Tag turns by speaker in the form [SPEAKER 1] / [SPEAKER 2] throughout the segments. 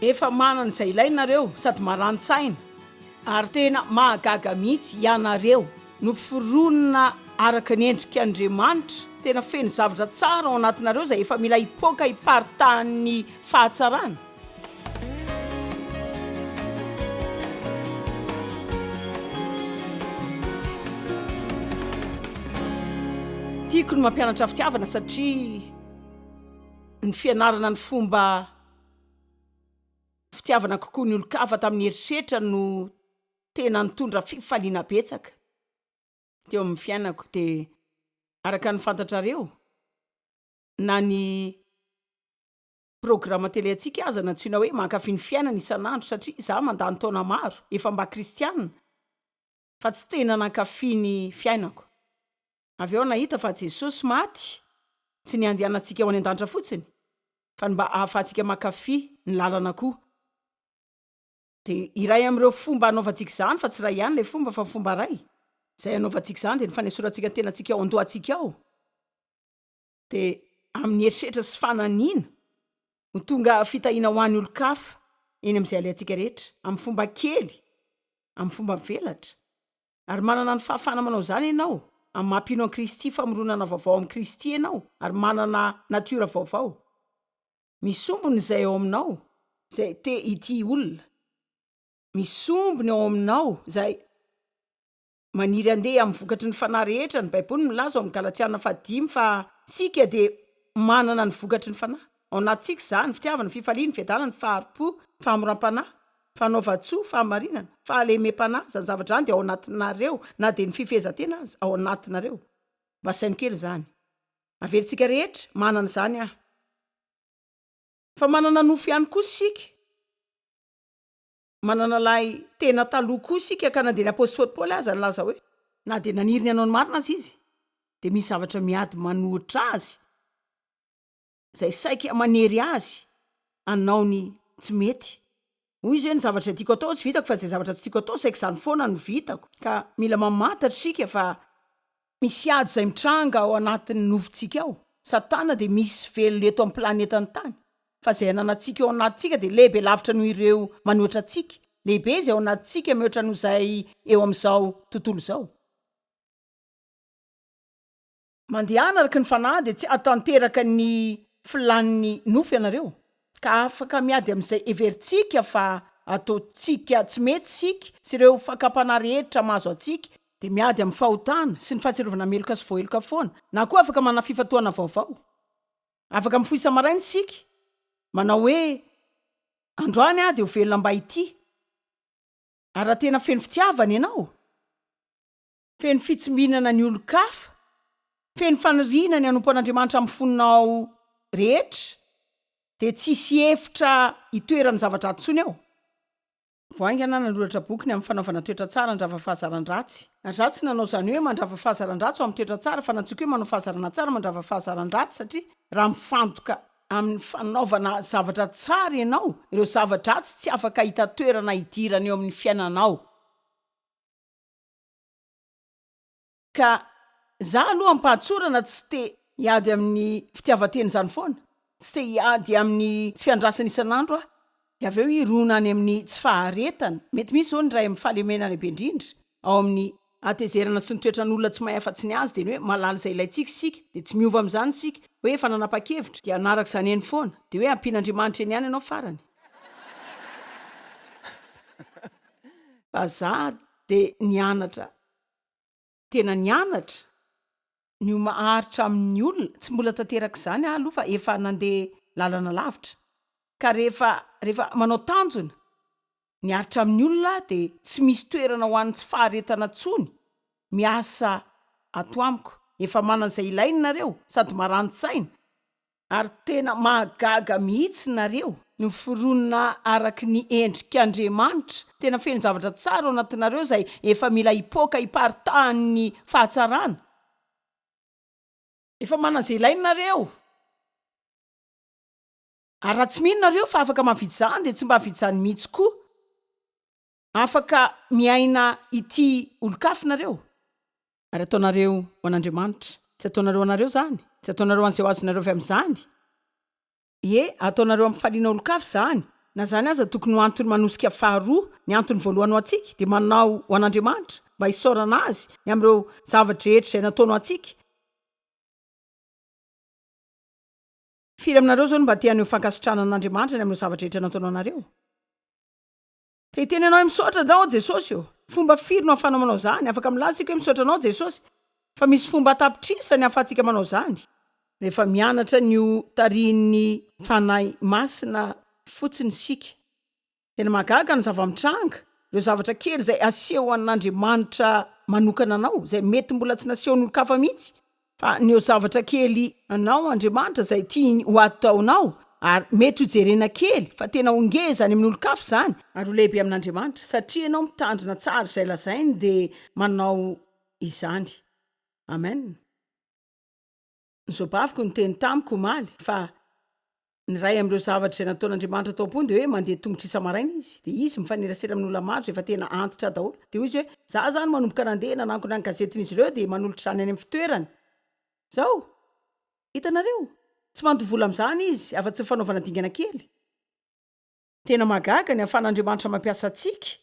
[SPEAKER 1] Efa manana izay ilaina nareo sady marani-tsaina ary tena mahagaga mihitsy ianareo no foronina araka ny endrik' Andriamanitra, tena feno zavatra tsara ao anatinareo izay efa mila hipoaka hiparitahan'ny fahatsarana. Tiako ny mampianatra fitiavana satria. Ny fianarana ny fomba fitiavana kokoa ny olon-kafa tamin'ny herisetra no tena nitondra fifaliana betsaka teo amin'ny fiainako, dia araka ny fantatrareo na ny programa tele antsika aza nantsoina hoe mankafy ny fiainana isan'andro satria za mandany taona maro efa mba kristiana fa tsy tena nankafy ny fiainako. Avy eo aho nahita fa Jesosy maty tsy ny handehanantsika ho any an-danitra fotsiny fa ny mba ahafahantsika mankafy ny lalana koa. Dia iray amin'ireo fomba hanaovantsika izany, fa tsy iray ihany ilay fomba fa fomba iray izay hanaovantsika izany dia ny fanesorantsika ny tenantsika ao an-dohantsika ao. dia amin'ny herisetra sy fananiana ho tonga fitahiana ho an'ny olon-kafa eny amin'izay alehantsika rehetra, amin'ny fomba kely, amin'ny fomba mivelatra. Ary manana ny fahafahana manao izany ianao, amin'ny maha-mpino an'i Kristy, famoronana vaovao amin'i Kristy ianao, ary manana natiora vaovao. Misombina izay ao aminao, izay te hitia olona. Misombina ao aminao izay. Maniry handeha amin'ny vokatry ny fanahy rehetra ny Baiboly milaza ao amin'ny Galatiana fahadimy fa isika dia manana ny vokatry ny fanahy. Ao anatintsika izany, fitiavana, fifaliana, fiadanana, fahari-po, famoram-panahy, fanaovan-tsoa, fahamarinana, fahalemem-panahy, izany zavatra izany dia ao anatinareo, na dia ny fifehezan-tena aza ao anatinareo. Mba asaino kely izany. Averintsika rehetra, manana izany aho. Fa manana nofo ihany koa isika. manana lahy tena taloha koa isika ka na dia ny apostoly Paoly aza nilaza hoe. Na dia naniry ny hanao ny marina aza izy dia misy zavatra miady manohitra azy izay saika manery azy hanao ny tsy mety. Hoy izy hoe, ny zavatra tiako atao tsy vitako fa izay zavatra tsy tiako atao saika izany foana no vitako. Ka mila mamantatra isika fa Misy ady izay mitranga ao anatin'ny nofontsika ao. Satana dia misy velona eto amin'ny planetany tany. Fa izay ananantsika ao anatintsika dia lehibe lavitra noho ireo manoatra antsika. Lehibe izay ao anatintsika mihoatra noho izay eo amin'izao tontolo izao. Mandehana araka ny fanahy dia tsy hahatanteraka ny filàn'ny nofo ianareo. ka afaka miady amin'izay heverintsika fa ataontsika tsy mety isika sy ireo fakam-panahy rehetra mahazo antsika, dia miady amin'ny fahotana sy ny fahatsiarovana meloka sy voaheloka foana, na koa afaka manana fifantohana vaovao. Afaka mifoha isa-maraina isika, manao hoe, Androany aho dia ho velona mba hitia. Ary raha tena feno fitiavana ianao? Feno fitsimbinana ny olon-kafa, feno faniriana ny hanompo an'Andriamanitra amin'ny fonao rehetra, dia tsy hisy hevitra hitoeran'ny zavatra ratsy intsony eo. Vao haingana nanoratra boky ny amin'ny fanaovana toetra tsara handrava fahazaran-dratsy. Na izaho tsy nanao izany hoe mandrava fahazaran-dratsy ho amin'ny toetra tsara fa natsoiko hoe manao fahazarana tsara mandrava fahazaran-dratsy satria raha mifantoka amin'ny fanaovana zavatra tsara ianao, ireo zava-dratsy tsy afaka hahita toerana hidirana eo amin'ny fiainanao. Ka za aloha ampahatsorana tsy te hiady amin'ny fitiavan-tena izany foana, tsy te hiady amin'ny tsy fiandrasana isan'andro aho, dia avy eo hirona any amin'ny tsy faharetana, mety misy izao ny iray amin'ny fahalemena lehibe indrindra ao amin'ny hatezerana sy ny toetran'olona tsy mahay afa-tsy ny azy dia ny hoe mahalala izay ilaintsika isika dia tsy miova amin'izany isika hoe efa nanapa-kevitra dia hanaraka izany eny foana dia hoe ampian'Andriamanitra eny ihany ianao farany Vazaha Dia nianatra, tena nianatra, ny ho maharitra amin'ny olona, tsy mbola tanteraka izany aho aloha fa efa nandeha lalana lavitra, ka rehefa, rehefa manao tanjona, miaritra amin'ny olona aho dia tsy misy toerana ho an'ny tsy faharetana tsony, miasa ato amiko, efa manana izay ilainy nareo, sady marani-tsaina, Ary tena mahagaga mihitsy nareo miforonina araky ny endrik Andriamanitra, tena feno zavatra tsara ao anatinareo izay efa mila hipoaka hiparitahan ny fahatsarana, efa manana izay ilaina nareo, ary raha tsy mino nareo fa afaka mavidy izany dia tsy mba vidy izany mihitsy koa. Afaka miaina ity olon-kafy nareo? Ary ataonareo ho an'Andriamanitra? Tsy ataonareo ho anareo zany? Tsy ataonareo ho an'izay ho azonareo avy amin'izany? Ie, ataonareo ampifaliana olon-kafy zany. Na zany aza tokony ho antony manosika faharoa, ny antony voalohany ho antsika dia manao ho an'Andriamanitra, mba hisaorana Azy ny amin'ireo zava-drehetra izay nataony ho antsika. Firy aminareo zao no mba te haneho fankasitrahana an'Andriamanitra ny amin'ireo zava-drehetra nataony ho anareo? Te hiteny anao hoe misaotra andrao aho Jesosy ô. Fomba firy no ahafanao manao zany? Afaka milaza isika hoe misaotra anao Jesosy, fa misy fomba an-tapitrisany ahafahantsika manao zany. Rehefa mianatra ny ho tarihin'ny Fanahy Masina fotsiny isika, tena mahagaga ny zava-mitranga, ireo zavatra kely izay asehon'Andriamanitra manokana anao, izay mety mbola tsy nasehon'olon-kafa mihitsy, Haneho zavatra kely anao Andriamanitra izay tiany ho ataonao, ary mety ho jerena kely fa tena ho ngeza any amin'olon-kafa izany, ary ho lehibe amin'Andriamanitra, satria ianao mitandrina tsara izay lazainy dia manao izany. Amen. Ny zobavyko niteny tamiko omaly fa ny ray am'reo zavatra izay nataon'andriamanitra tao am-pony de hoe mandeha tongotra isamaraina izy de izy mifanerasera amin'olona maro zay efa tena antitra daholo de hoy izy hoe za zany manomboka nandeha nanankona ny gazetin'izy ireo de manolotra izany any amin'ny fitoerany zao hitanareo tsy mandoa vola amin'izany izy afa-tsy ny fanaovana dingana kely tena mahagaga ny ahafahan'andriamanitra mampiasa antsika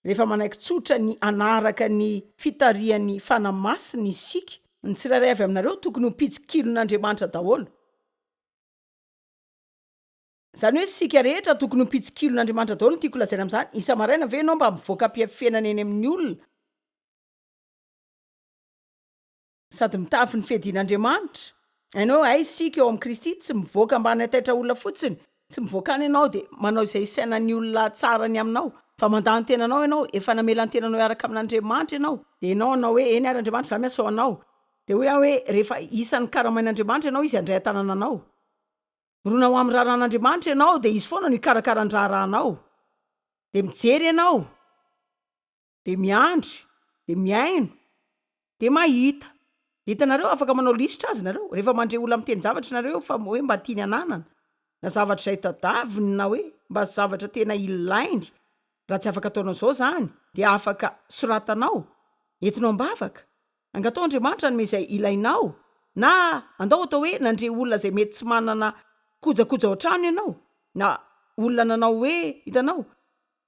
[SPEAKER 1] rehefa manaiky tsotra ny anaraka ny fitarihan'ny fana masina isika ny tsirairay avy aminareo tokony ho mpijikilon'andriamanitra daholo Zany hoe isika rehetra tokony ho mpitsikilona Andriamanitra daholo no tiako lazaina amzany, isa maraina ve enao mba mivoaka mpiafienana eny aminy olona, sady mitafy ny fiadiana Andriamanitra, enao hoe hay isika eo am Kristy tsy mivoaka mba hanaitaitra olona fotsiny, tsy mivoaka any enao de manao izay isainany olona tsara ny aminao, fa mandà ny tenanao enao, efa namela ny tenanao hiaraka amin Andriamanitra enao, de enao hanao hoe eny ary Andriamanitra za miasa ho anao, Dia hoy aho hoe, Rehefa isan'ny karamain'Andriamanitra ianao, Izy handray an-tanana anao. Mirona ho amin'ny raharahan'Andriamanitra ianao, dia Izy foana no hikarakara ny raharahanao. Dia mijery ianao, dia miandry, dia mihaino, dia mahita. Hitanareo, afaka manao lisitra azy nareo, rehefa mandre olona miteny zavatra nareo fa hoe mba tiany hananana, na zavatra izay tadaviny, na hoe mba zavatra tena ilainy, raha tsy afaka ataonao izao izany, dia afaka soratanao, entinao am-bavaka. Angatao Andriamanitra hanome izay ilainao, na andao atao hoe nandre olona izay mety tsy manana kojakoja ao an-trano ianao, na olona nanao hoe, hitanao,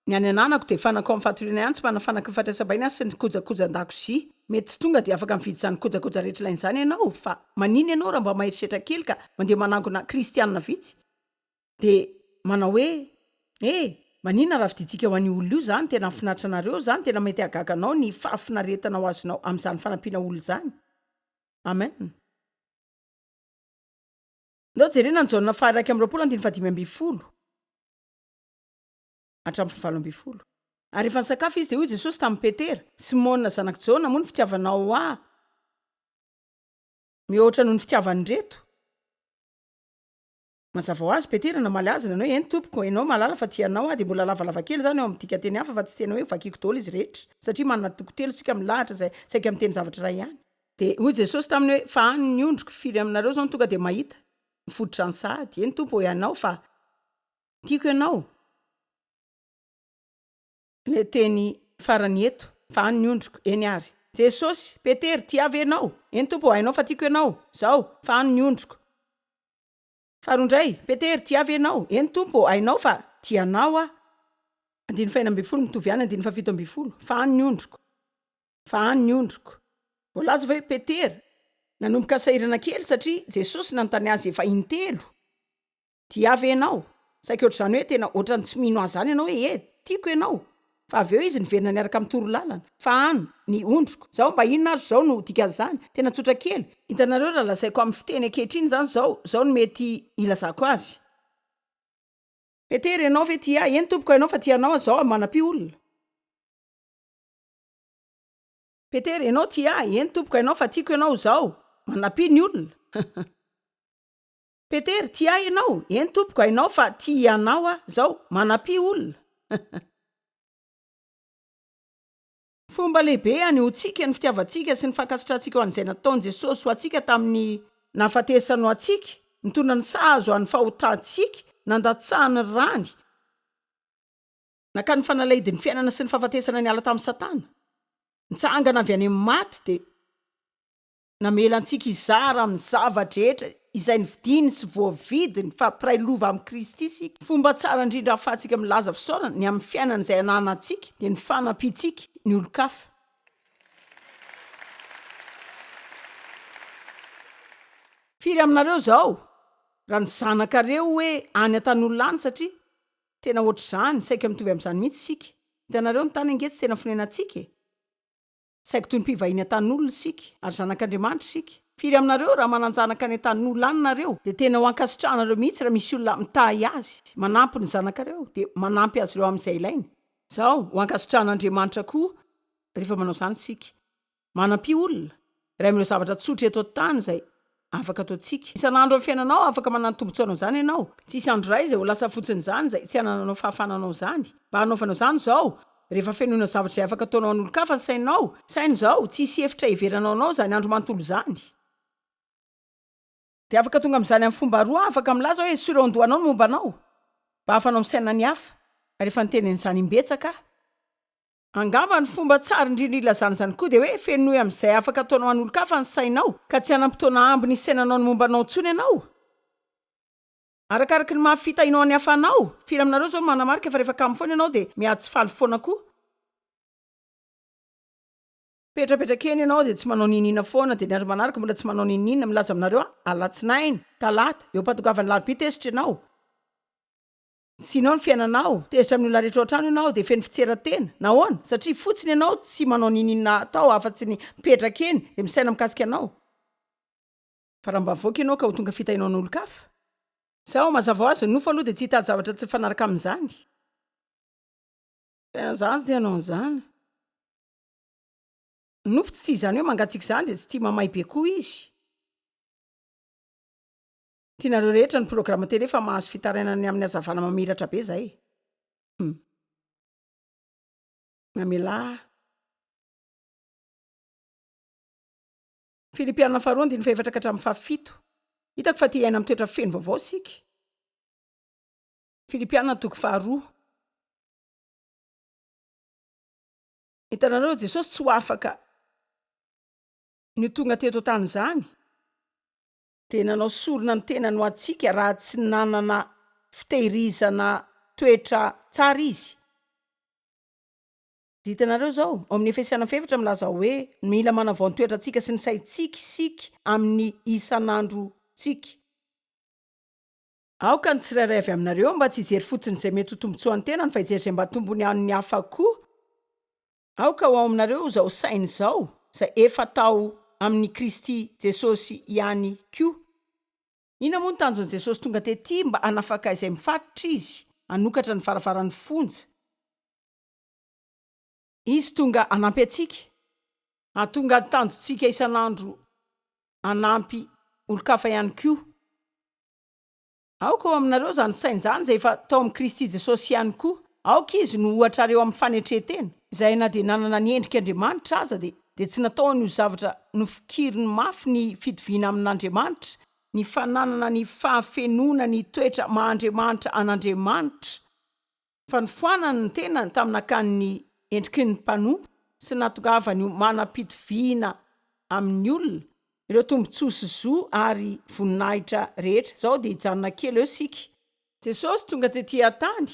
[SPEAKER 1] ny any ananako dia fanaka ao amin'ny fatoriana ihany, tsy manana fanaka fandraisam-bahiny aho sy ny kojakoja an-dakozia. Mety tsy tonga dia afaka mividy izany kojakoja rehetra ilaina izany ianao, fa maninona ianao raha mba maheritreritra kely ka mandeha manangona Kristianina vitsy? Dia manao hoe, E! Maninona raha fidintsika ho an'io olona io izany? Tena hahafinaritra anareo izany? Tena mety hahagaga anao ny fahafinaretana ho azonao amin'izany fanampiana olona izany. Amen. Ndao jerena ny Jaona faha iraika amby roapolo andininy faha dimy ambin'ny folo hatramin'ny faha valo ambin'ny folo. Ary rehefa nisakafo izy, dia hoy i Jesosy tamin'i Petera, Simona zanak'i Jaona, moa ny fitiavanao Ahy mihoatra noho ny fitiavan'ireto? Mazava ho azy, Petera namaly azy nanao hoe, Eny, Tompoko, ianao mahalala fa tia anao aho. Dia mbola lavalava kely izany eo amin'ny dikan-teny hafa fa tsy tena hoe vakiko daholo izy rehetra, satria manana toko telo isika milahatra izay saika miteny zavatra iray ihany. Dia hoy Jesosy taminy hoe, Fa any ny ondriko, firy aminareo izao no tonga dia mahita ny fototry ny sahady? Eny, Tompo, ianao fa tiako ianao. Ilay teny farany eto, Fa any ny ondriko, eny ary. Jesosy, Petera, tiavo ianao? Eny, Tompo, hainao fa tiako ianao. Izao, Fa any ny ondriko. Faharoa indray, Petera, tia ve ianao? Eny, Tompo ô, hainao fa tia anao aho. Andininy fahenina ambin'ny folo, mitovy ihany andininy fahafito ambin'ny folo, fa hany ny ondriko, fa hany ny ondriko. Voalaza fa hoe Petera nanomboka sahirana kely satria Jesosy nanontany azy efa intelo, Tia ahy ve ianao? Saika ohatr'izany hoe tena ohatran'ny tsy mino ahy izany ianao hoe, Ee, tiako ianao. Fa avy eo izy niverina niaraka amin'ny torolalana. Fa an, ny ondriko. Izao mba inona ary izao no dikan'izany? Tena tsotra kely. Hitanareo raha lazaiko amin'ny fiteny ankehitriny izany izao, izao no mety hilazako azy. Petera, ianao ve tia Ahy? Eny, Tompoko, hainao fa tia Anao Aho. Izao aho manampy olona. Petera, ianao tia Ahy? Eny, Tompoko, hainao fa tiako Ianao. Izao aho manampy ny olona. Petera, Tia ahy ianao? Eny tompoko, hainao fa tia anao aho. Izao, manampia olona. Fomba lehibe hanehoantsika ny fitiavantsika sy ny fankasitrahantsika ho an'izay nataon'i Jesosy ho antsika tamin'ny nahafatesany ho antsika, nitondra ny sahazo an'ny fahotantsika, nandatsahany ny rany, nakany ny fanalahidin'ny fiainana sy ny fahafatesana niala tamin'i Satana, nitsangana avy any amin'ny maty, dia. Namela antsika hizara amin'ny zava-drehetra izay novidiny sy voavidiny fa mpiray lova amin'i Kristy isika. Ny fomba tsara indrindra ahafahantsika milaza fisaorana ny amin'ny fiainana izay ananantsika dia ny fanampiantsika ny olon-kafa. Firy aminareo izao raha ny zanakareo hoe any an-tan'olona any satria tena ohatr'izany, saika mitovy amin'izany mihitsy isika. Hitanareo ny tany ange tsy tena fonenantsika e! Saingy toy ny mpivahiny an-tanin'olona isika, ary zanak'Andriamanitra isika. Firy aminareo, raha manan-janaka any an-tanin'olona any nareo, dia tena ho ankasitrahanareo mihitsy raha misy olona mitahy azy, manampy ny zanakareo, dia manampy azy ireo amin'izay ilainy? Izao, ho ankasitrahan'Andriamanitra koa rehefa manao izany isika. Manampy olona. Iray amin'ireo zavatra tsotra eto an-tany izay afaka ataontsika isan'andro amin'ny fiainanao, afaka manana tombontsoa hanao izany ianao, tsy hisy andro iray izay ho lasa fotsiny izany, izay tsy hanananao fahafahana hanao izany. Mba hanaovanao izany izao, rehefa fenoina zavatra izay afaka ataonao an'olon-kafa ny sainao, saino izao, tsy hisy hevitra hiheveranao anao izany andro manontolo izany. Dia afaka tonga amin'izany amin'ny fomba roa, afaka milaza hoe, Esory ao an-dohanao ny momba anao, mba hahafahanao misaina ny hafa, ary efa niteny an'izany imbetsaka aho. Angamba ny fomba tsara indrindra ilazana izany koa dia hoe, Fenoy amin'izay afaka ataonao an'olon-kafa ny sainao, ka tsy hanam-potoana ambiny hisainanao ny momba anao intsony ianao. Arakaraka ny maha fita inao an'i Hafa anao. Firy aminareo izao no manamarika fa rehefa kamo foana ianao dia miha tsy faly foana koa? Mipetrapetraka eny ianao dia tsy manao n'inon'inona foana, dia ny andro manaraka mbola tsy manao n'inon'inona, milaza aminareo aho, Alatsinainy, Talata, eo am-pahatongavan'ny Alarobia tezitra ianao. Tsy inao ny fiainanao, tezitra amin'ny olona rehetra ao an-trano ianao dia feno fitseran-tena. Nahoana? Satria fotsiny ianao tsy manao n'inon'inona atao afa-tsy ny mipetraka eny dia misaina mikasika anao. Fa raha mba mivoaka ianao ka ho tonga fitahiana ho an'olon-kafa? Sa ao? Mazava ho azy, ny nofo aloha dia tsy hitady zavatra tsy mifanaraka amin'izany. Tena izaho tsy te hanao an'izany. Ny nofo tsy tia izany hoe mangatsiaka izany dia tsy tia mamay be koa izy. Tianareo rehetra ny programa tele fa mahazo fitarainana ny amin'ny hazavana mamiratra be zay e. Mamelà aho. Filipiana faharoa andininy fahefatra ka hatramin'ny fahafito. Hitako fa te hiaina amin'ny toetra feno vaovao isika. Filipiana toko faharoa. Hitanareo, Jesosy tsy ho afaka ny ho tonga teto an-tany izany. dia nanao sorona ny tenany ho antsika raha tsy nanana fitehirizana toetra tsara izy. Hitanareo izao, ao amin'ny Efesiana faha efatra milaza hoe, mila manavao ny toetrantsika sy ny saintsika isika amin'ny isan'androntsika. Aoka ny tsirairay avy aminareo mba tsy hijery fotsiny izay mety ho tombontsoan'ny tenany fa hijery izay mba tombony an'ny hafa koa. Aoka ho ao aminareo izao saina izao izay efa tao amin'i Kristy Jesosy ihany koa. Inona moa ny tanjon'i Jesosy tonga tetỳ? Mba hanafaka izay mifatotra Izy, hanokatra ny varavaran'ny fonja. Izy tonga hanampy antsika, hahatonga ny tanjontsika isan'andro hanampy olon-kafa ihany koa. Aoka ao aminareo izany saina izany izay efa tao amin'i Kristy Jesosy ihany koa. Aoka Izy no ohatrareo amin'ny fanetren-tena, izay na dia nanana ny endrik' Andriamanitra aza, dia dia tsy nataony ho zavatra nofikiriny mafy ny fitoviana amin' Andriamanitra, ny fananana ny fahafenoana ny toetra maha-Andriamanitra an' Andriamanitra. fanofanany ny tenany tamin'ny nakany ny endriky ny mpanompo sy ny nahatongavany ho manam-pitoviana amin'ny olona, ireo tombontsoa sy zo ary voninahitra rehetra. Izao dia hijanona kely eo isika. Jesosy tonga tetỳ an-tany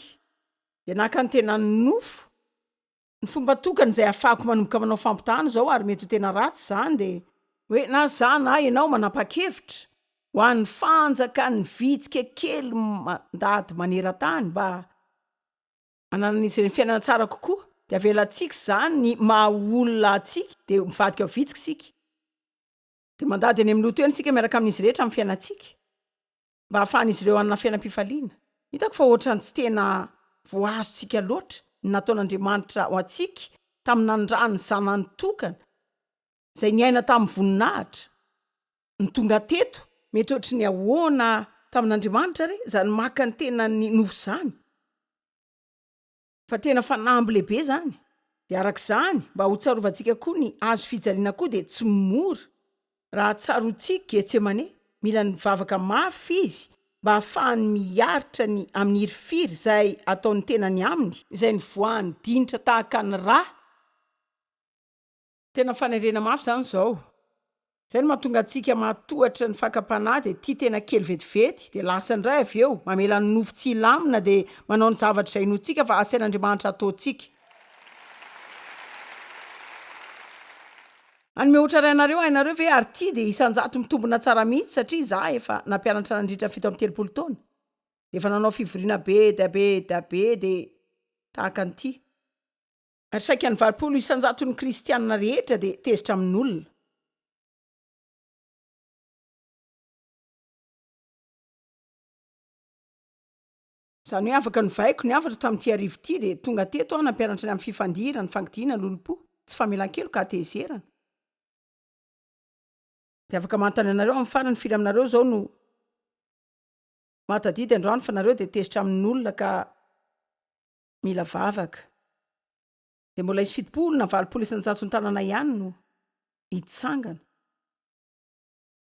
[SPEAKER 1] dia naka ny tenany nofo Ny fomba tokana izay ahafahako manomboka manao fampitahana izao ary mety ho tena ratsy izany dia. Hoe na izaho na ianao manapa-kevitra ho an'ny fanjakan'ny vitsika kely mandady maneran-tany mba hananan'izy ireny fiainana tsara kokoa dia avelantsika izany ny maha olona antsika dia mivadika ho vitsika isika dia mandady any amin'ny loto eny isika miaraka amin'izy rehetra amin'ny fiainantsika. mba hahafahan'izy ireo hanana fiainam-pifaliana. Hitako fa hoatran'ny tsy tena voahazontsika loatra ny nataon'Andriamanitra ho antsika tamin'ny nanindràny ny Zanany tokana, izay niaina tamin'ny voninahitra. Ny tonga teto. Mety hoatry ny ahoana tamin'Andriamanitra àry izany maka ny tenany nofo izany? Fa tena fanamby lehibe zany. De araka izany mba ho tsarovantsika koa ny hazo fijaliana koa de tsy mora raha tsaroantsik Getsemane. Mila ny vavaka mafy izy mba hahafahany miaritra ny amin'ny hirifiry zay ataon'ny tenany aminy. Izay nivoahan'ny dinitra tahaka ny ra. Tena fanerena mafy izany izao. Izay no mahatonga antsika mahatohatra ny fakam-panahy dia tia tena kely vetivety dia lasa indray avy eo mamela ny nofo tsy hilamina dia manao ny zavatra izay inoantsika fa asain'Andriamanitra hataontsika. Hanome ohatra iray anareo, hainareo ve ary ity dia isan-jato mitombina tsara mihitsy satria izaho efa nampianatra nandritra ny fito amby telopolo taona dia efa nanao fivoriana be dia be dia be dia tahaka an'ity. Ary saika ny valopolo isan-jaton'ny Kristianina rehetra dia tezitra amin'olona. Izany hoe afaka novaiko ny hafatra tamin'ity hariva ity dia tonga teto aho nampianatra ny amin'ny fifandirana, ny fangidiana, ny lolompo, tsy famelan-keloka, hatezerana. Dia afaka manontany anareo amin'ny farany firy aminareo izao no mahatadidy androany fa nareo dia tezitra amin'olona ka mila vavaka dia mbola hisy fitopolo na valopolo isan-jaton tanana ihany no hitsangana.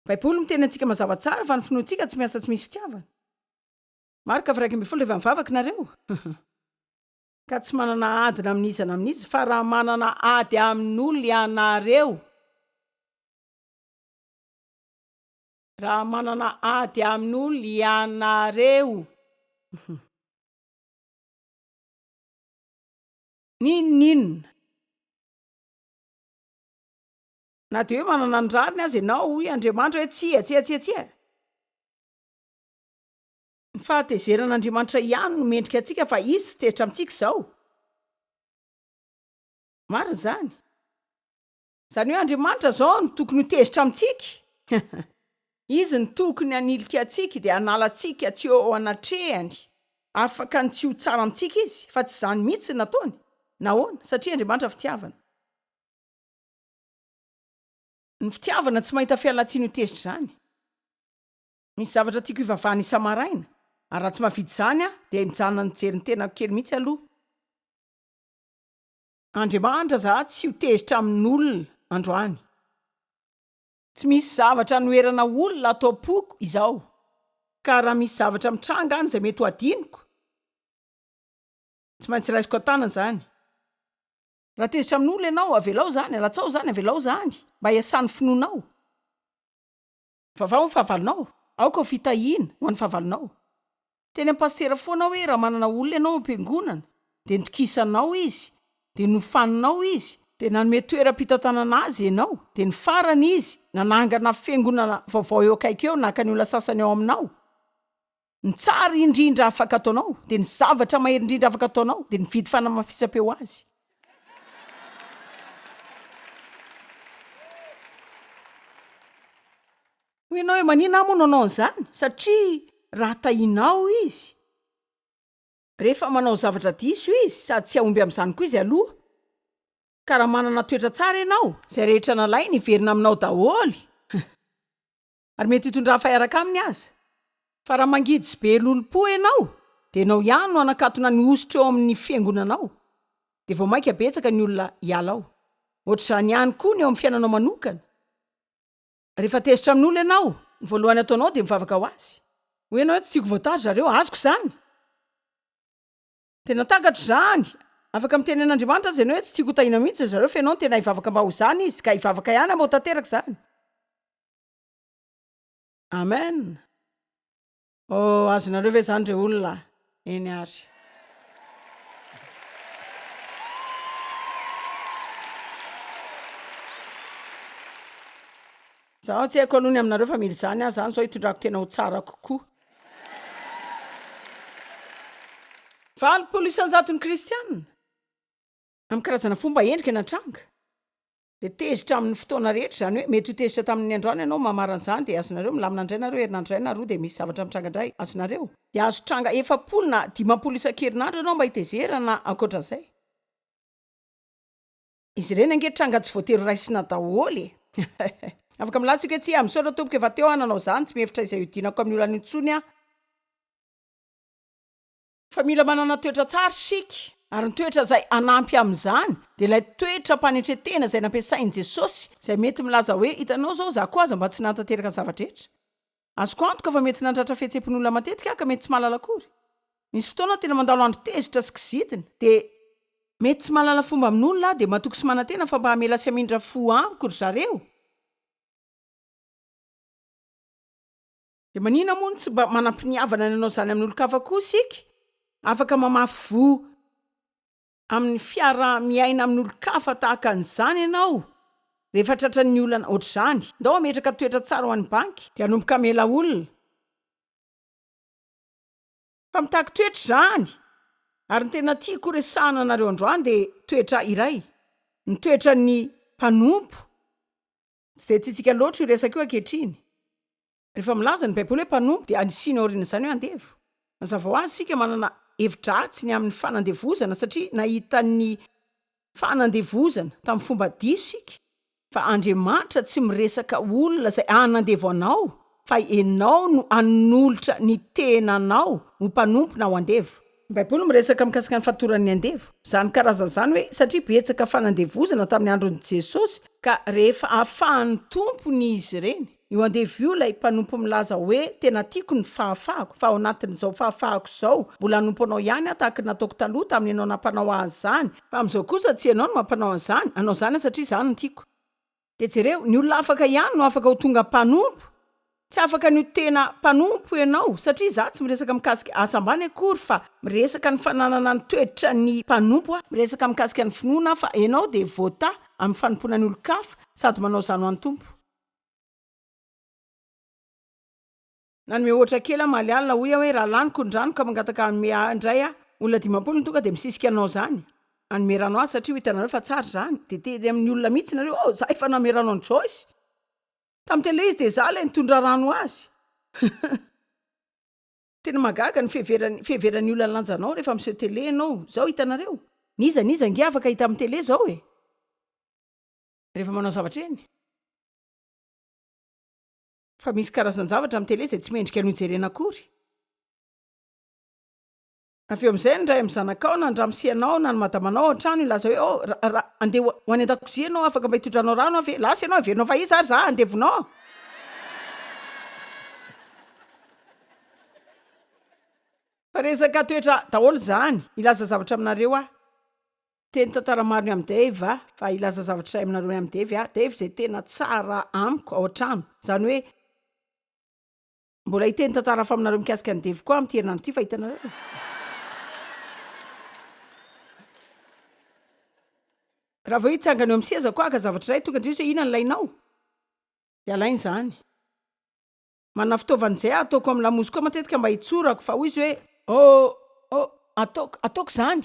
[SPEAKER 1] Baiboly miteny antsika mazava tsara fa ny finoantsika tsy miasa tsy misy fitiavana. Marka varaika ambin'ny folo Rehefa mivavaka ianareo, ka tsy manana adina amin'iza na amin'iza, fa raha manana ady amin'olona ianareo, raha manana ady amin'olona ianareo, N'inon'inona. Na dia hoe manana ny rariny aza ianao, hoy Andriamanitra hoe, Tsia, tsia, tsia, tsia. Ny fahatezeran'Andriamanitra ihany no mendrika antsika fa Izy tsy tezitra amintsika izao. Marina izany. Izany hoe Andriamanitra izao no tokony ho tezitra amintsika. Izy no tokony hanilika antsika dia hanala antsika tsy eo anatrehany. Afaka ny tsy ho tsara amintsika Izy, fa tsy izany mihitsy no nataony. Nahoana? Satria Andriamanitra fitiavana. Ny fitiavana tsy mahita fialantsiny ho tezitra izany. Misy zavatra tiako hivavahana isa-maraina, ary raha tsy mahavita izany aho, dia mijanona mijery ny tenako kely mihitsy aloha. Andriamanitra za tsy ho tezitra amin olona androany. Tsy misy zavatra anoherana olona ato ampoko izao ka raha misy zavatra mitranga any izay mety ho adinoko tsy maintsy raisiko an-tanana izany. Raha tezitra amin olona ianao avelao izany, alatsao izany, avelao izany mba hiasan'ny finoanao. Vavao ny fahavalonao, aoka ho fitahiana ho an'ny fahavalonao. Teny amin'ny pasitera foana hoe raha manana olona ianao ao am-piangonana dia nitokisanao izy, dia nofaninao izy, dia nanome toeram-pitantanana azy ianao, dia ny farany izy nanangana fiangonana vaovao eo akaiky eo naka ny olona sasany ao aminao, Ny tsara indrindra afaka ataonao dia ny zavatra mahery indrindra afaka ataonao dia mividy fanamafisam-peo ho azy. Hoy ianao hoe manina aho moa no anao an'izany? Satria raha tahinao izy, rehefa manao zavatra diso izy, sady tsy hahomby amin'izany koa izy aloha. Ka raha manana toetra tsara ianao, izay rehetra nalainy hiverina aminao daholo. ary mety hitondrany faharaka aminy aza. Fa raha mangidy sy be lolompo ianao, dia ianao ihany no hanakatona ny hosotra eo amin'ny fiangonanao, dia vao mainka betsaka ny olona hiala ao. Hoatr'izany ihany koa ny eo amin'ny fiainanao manokana. Rehefa tezitra amin'olona ianao, ny voalohany ataonao dia mivavaka ho azy. Hoy ianao hoe, Tsy tiako voatary ry zareo. Azoko izany. Tena takatro izany. Afaka miteny an'Andriamanitra aza ianao hoe, Tsy tiako ho tahiana mihitsy ry zareo, fa ianao no tena hivavaka mba ho izany izy, ka hivavaka ihany aho mba ho tanteraka izany. Amen oh azonareo ve zany re olona eny ary zaho tsy haiko aloha ny aminareo fa mila izany aho zany zao hitondrako tena ho tsara kokoa valopolo isanjatony kristianina amin'ny karazana fomba endrika natranga Dia tezitra amin'ny fotoana rehetra, izany hoe mety ho tezitra tamin'ny androany ianao no mahamara an'izany, dia azonareo milamina indray nareo herinandro iray na roa dia misy zavatra mitranga indray, azonareo. Dia azo tranga efapolo na dimampolo isan-kerinandro ianao mba hitezerana na ankoatran'izay. Izy ireny ange tranga tsy voatery ho raisina daholo e! Afaka milaza isika hoe, Tsia, misaotra Tompoko, efa teo aho nanao izany, tsy mihevitra izay hiodinako amin'ny olana intsony aho. Fa mila manana toetra tsara isika, ary ny toetra izay hanampy amin'izany dia ilay toetram-panetren-tena izay nampiasain'i Jesosy, izay mety milaza hoe, Hitanao izao, izaho koa aza mba tsy nahatanteraka ny zava-drehetra. Azoko antoka fa mety nandratra fihetseham-pon'olona matetika aho ka mety tsy mahalala akory. Misy fotoana aho tena mandalo andro tezitra sy kizitina, dia. Mety tsy mahalala fomba amin'ny olona aho, dia matoky sy manantena fa mba hamela sy hamindra fo amiko ry zareo. Dia manina moa no tsy mba manam-piniavana ny hanao izany amin'olon-kafa koa isika? Afaka mamafy voa amin'ny fiaraha-miaina amin'olon-kafa tahaka an'izany ianao rehefa tratran'ny olana hoatr'izany. Ndao hametraka toetra tsara ho an'ny banky dia hanomboka hamela olona. Fa mitaky toetra izany. Ary ny tena tiako horesahana anareo androany dia toetra iray, ny toetran'ny mpanompo. Tsy dia tiantsika loatra io resaka io ankehitriny. Rehefa milaza ny Baiboly hoe mpanompo, dia anisiany aorian'izany hoe andevo. Mazava ho azy, isika manana hevi-dratsy ny amin'ny fanandevozana, satria nahita ny fanandevozana tamin'ny fomba diso isika. Fa Andriamanitra tsy miresaka olona izay hanandevo anao, fa ianao no hanolotra ny tenanao ho mpanompo na ho andevo. Ny Baiboly miresaka mikasika ny fatoran'ny andevo. Izany karazana izany hoe satria betsaka fanandevozana tamin'ny andron'i Jesosy, ka rehefa afahan'ny tompony izy ireny, io andevo io ilay mpanompo milaza hoe tena tiako ny fahafahako, fa ao anatin'izao fahafahako izao, mbola hanompo anao ihany aho tahaka ny nataoko taloha tamin'ny ianao nampanao ahy izany, fa amin'izao kosa tsy ianao no mampanao an'izany, anao izany aho satria izaho no tiako. Dia jereo, ny olona afaka ihany no afaka ho tonga mpanompo, tsy afaka ny ho tena mpanompo ianao, satria izaho tsy miresaka mikasika asa ambany akory fa miresaka ny fananana ny toetra ny mpanompo aho, miresaka mikasika ny finoana aho fa ianao dia vota amin'ny fanompoana ny olon-kafa sady manao izany ho an'ny Tompo. Nanome ohatra kely aho, Maly alina, hoy aho hoe, Raha laniko ny rano ka mangataka hanome ahy indray aho, olona dimampolo no tonga dia misisika anao izany, hanome rano ahy satria ho hitanareo fa tsara izany. Dia teny amin'ny olona mihitsy nareo, Oh, izaho efa nanome rano an'i Joyce. Tamin'ny telo ilay izy dia izaho ilay nitondra rano ho azy. Tena mahagaga ny fiheveran'ny, fiheveran'ny olona ny lanjanao rehefa miseho tele ianao. Izao, hitanareo. N'iza n'iza ange afaka hita amin'ny tele izao e? Rehefa manao zavatra eny. Fa misy karazan-javatra amin'ny tele izay tsy mendrika ny hojerena akory. Avy eo amin'izay, ny ray amin'ny zanakao, na ny ramosianao, na ny madamanao ao an-trano, hilaza hoe, Oh, ra, ra, andeha ho, ho any an-dakozia ianao, afaka mba hitondranao rano aho ve? Lasa ianao, heverinao fa iza ary izaho handevonao? Fa resaka toetra daholo izany. Hilaza zavatra aminareo aho. Teny tantara maro ny amin'i Dave a! Fa hilaza zavatra iray aminareo ny amin'i Dave aho, Dave izay tena tsara amiko ao an-trano, izany hoe, Mbola hiteny tantara hafa aminareo mikasika an'i Dave koa aho amin'ity herinandro ity, fa hitanareo e! Raha vao hitsangana eo amin'ny sezako aho haka zavatra iray, tonga dia hoe, Inona no ilainao? Dia alainy izany. Manana fitaovana izay ataoko amin'ny lamoziko koa matetika mba hitsorako fa hoy izy hoe oh oh ataoko ataoko izany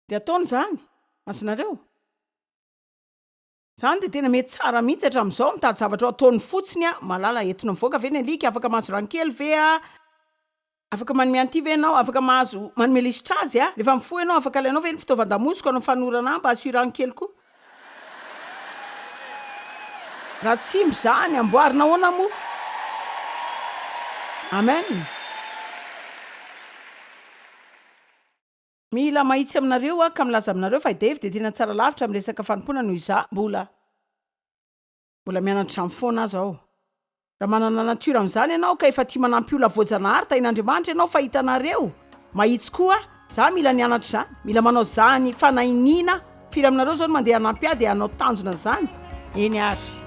[SPEAKER 1] dia ataony izany azonareo izany dia tena mety tsara mihitsy hatramin'izao mitady zavatra ao ataony fotsiny a malala entina mivoaka ve ny alika afaka mahazo rankely ve a Afaka manome an'ity ve ianao? Afaka mahazo manome lisitra azy a! Rehefa mifoha ianao, afaka alainao ve ny fitaovan-damosiko hanao fanorana ahy mba asio rano kely koa? Raha tsy mba izany, amboarina ahoana moa? Amen! Mila mahitsy aminareo aho ka milaza aminareo fa i Dave dia tena tsara lavitra amin'ny resaka fanompoana noho izaho mbola. Mbola mianatra izany foana aza aho. Raha manana natiora amin'izany ianao ka efa tia manampy olona voajanahary tahin'Andriamanitra ianao fa hitanareo mahitsy koa za mila nianatra izany, mila manao izany fanahiniana, firy aminareo izao no mandeha hanampy ahy dia hanao tanjona izany? Eny ary.